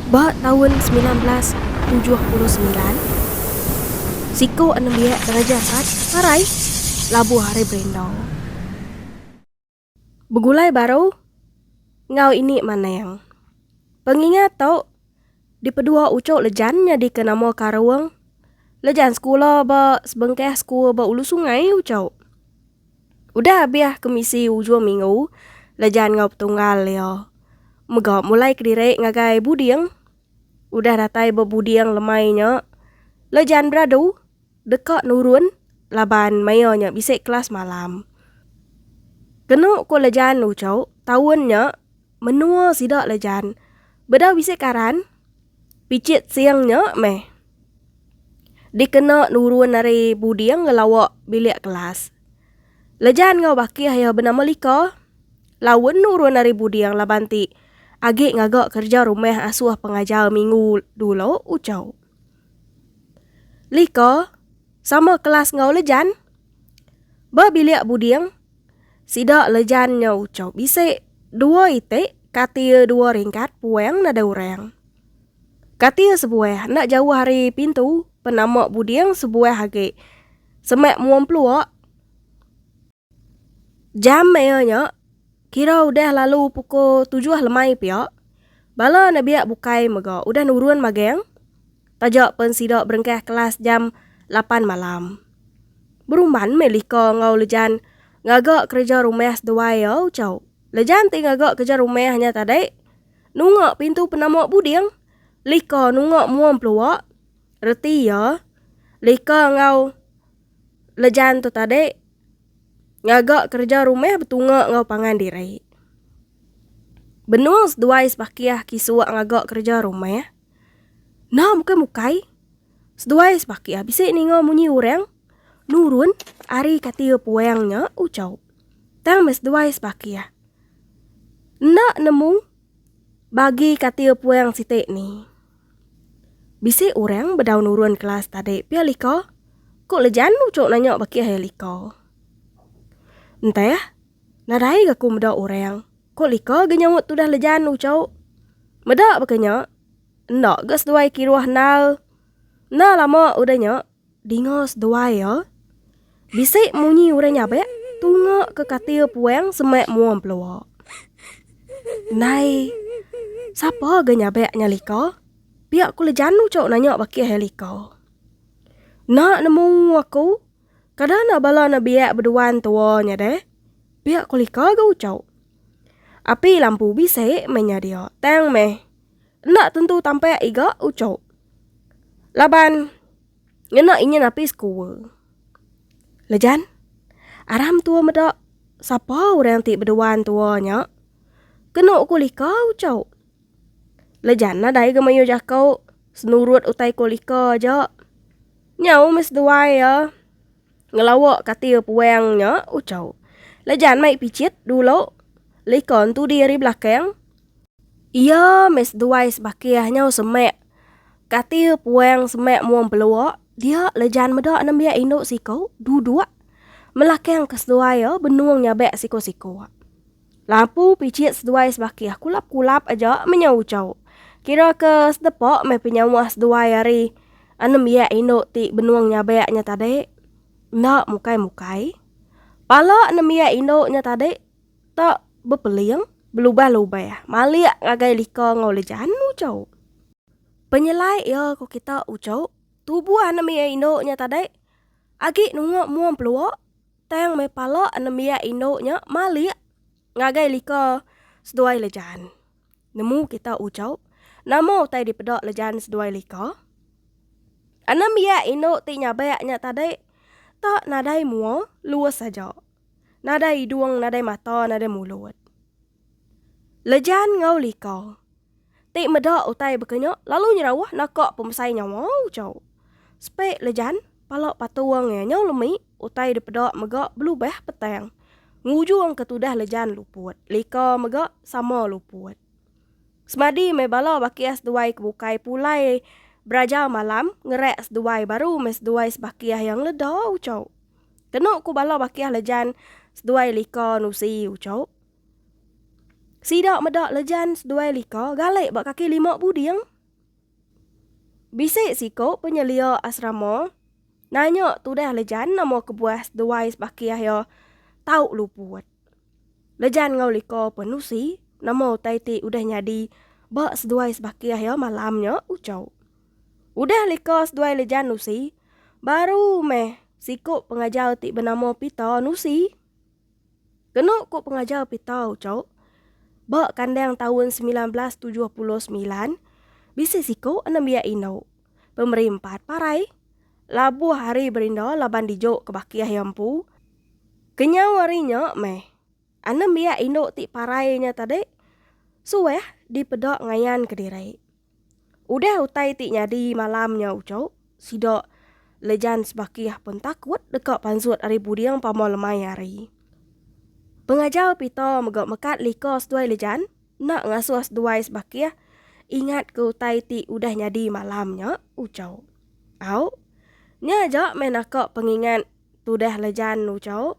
Ba taun semilan belas tujuh puluh semilan, siku anembiak Raja Angkat marai labuh ari Berendau. Begulai baru enggau ini Manang. Pengingat tu dipedua Ucho Lejan nyadika nama Karung. Lejan sekula ba sebengkah school ba Ulu Sungai, Ucho. Udah abih ke misi ujung minggu Lejan enggau Petunggal iya mega mulai kediri ngagai Buding. Udah datai ba Buding lemai nya Lejan beradu deka nurun laban maia nya bisi kelas malam. Kenu ku Lejan uchu taun nya Menua sida le jan. Bedau bisi karan, picit sing nya meh dikena nurun ari buding ngelawa bilik kelas. Lejan enggau bakih iya benama Lika laun nurun ari buding laban ti agi ngaga kerja rumah asuh pengajar minggu dulu ucau Lika sama kelas enggau Lejan ba bilik buding. Sida lejan nya ucau bisi dua iti kati iya dua ringkat puang nadai orang. Kati iya sebuah enda jauh ari pintu penama buding sebuah agi semak mua empelua. Jam iya nya kira udah lalu pukul tujuh lemai pia. Bala nabiak bukai mega udah nurun magang. Taja pen sida berengkah kelas jam lapan malam. Berumban meh lika enggau Lejan ngaga kereja rumah seduai iya ucau. Lejan ti ngaga kereja rumah nya tadi nunga pintu penama buding. Lika nunga mua empelua. Reti iya, lika enggau Lejan tu tadi ngaga kereja rumah betunga enggau pangan diri. Benung seduai sebakih kisuk ngaga kereja rumah. Nah bukai mukai, seduai sebaki ah bisi ninga munyi orang nurun ari katil puang nya ucau. Tang meh seduai sebaki ah. Enda nemu bagi katil puang siti ni. Bisi orang bedau nurun kelas tadi pia lika, ku Lejan ucau nanya baki ah iya lika. Enteh, nadai ga ku meda orang. Ko Lika ga nyaut tudah lejan ucau. Meda baka nya. Enda ga seduai kiruh endal. Enda lama udah nya, dinga seduai iya. Bisi munyi orang nyabak tunga ke katil puang semak mua empelua. Ndai. Sapa ga nyabak nya Lika? Pia ko Lejan ucau nanya bakih iya Lika. Enda nemu aku. Kada enda bala ne biak beduan tua nya deh. Pia ko lika ga ucau. Api lampu bisi meh nya dia tang meh. Enda tentu tampak iga ucau. Laban ngena inyin api sekua. Lejan, aram tua meda sapa orang ti beduan tua nya. Kenu ko lika ucau. Lejan nadai ga mayuh jako senurut utai ko lika aja. Nyau meh seduai iya ngelawa kati puang nya ucau. Lejan mai picit dulu lika entudi ari belakang. Iya meh seduai sebakih nyau semak kati puang semak mung pelua dia lejan meda nembiak indu siku duduk melakangka seduai iya benung nyabak siku-siku. Lampu pichit seduai sebakih kulap-kulap aja menyau uchauk. Kira ke sedepa meh penyawa seduai ari enam biak indu ti benung nyabek nya tadi. Enda mukai-mukai. Pala enam biak indu nya tadi te bepeling, belubah-lubah, malik ngagai lika enggau lejan uchauk. Penyelai iya ku kita uchauk, tubuh enam biak indu nya tadi agi nunga muang pelua. Tang meh pala anembiak indu nya malik ngagai lika seduai Lejan. Nemu kita ujau, nama utai dipeda Lejan seduai lika? Anembiak indu ti nyabak nya tadi tak nadai mua luas aja. Nadai idung, nadai mata, nadai mulut. Lejan enggau lika. ti meda utai baka nya lalu nyerauh naka pemesai nyawa ucau. Spek lejan pala patung iya nyau lemi utai dipeda mega belubah petang ngujungka tudah lejan luput lika mega sama luput. Semadi meh bala bakih seduai ke bukai pulai beraja malam ngerak seduai baru meh seduai sebakih iya ngeleda ucau. Kenu ku bala bakih lejan seduai lika nusi ucau. Sida meda Lejan seduai lika galek ba kaki lima buding. Bisi siku penyelia asrama nanya tudah Lejan nama kebuah seduai sebakih iya tau luput. Lejan enggau lika pun nusi nama utai ti udah nyadi ba seduai sebakih iya malam nya uchau. Udah lika seduai Lejan nusi, baru meh siku pengajar ti benama Pita nusi. Kenu ku pengajar Pitau Chok, ba kandang taun semilan belas tujuh puluh semilan, bisi siku anembiak indu pemeri empat parai labuh ari Berinda laban dijuk ke bakih iya empu. Kenyau ari nya meh, anembiak indu ti parai nya tadi suah dipeda ngayanka diri. Udah utai ti nyadi malam nya uchu, sida Lejan Sebakih pen takut deka pansut ari puding pama lemai hari. Pengajar Pita mega mekat lika seduai Lejan enda ngasuh seduai Sebakih ingat ke utai ti udah nyadi malam nya uchu. Au, nya aja meh naka pengingat tudah Lejan uchu.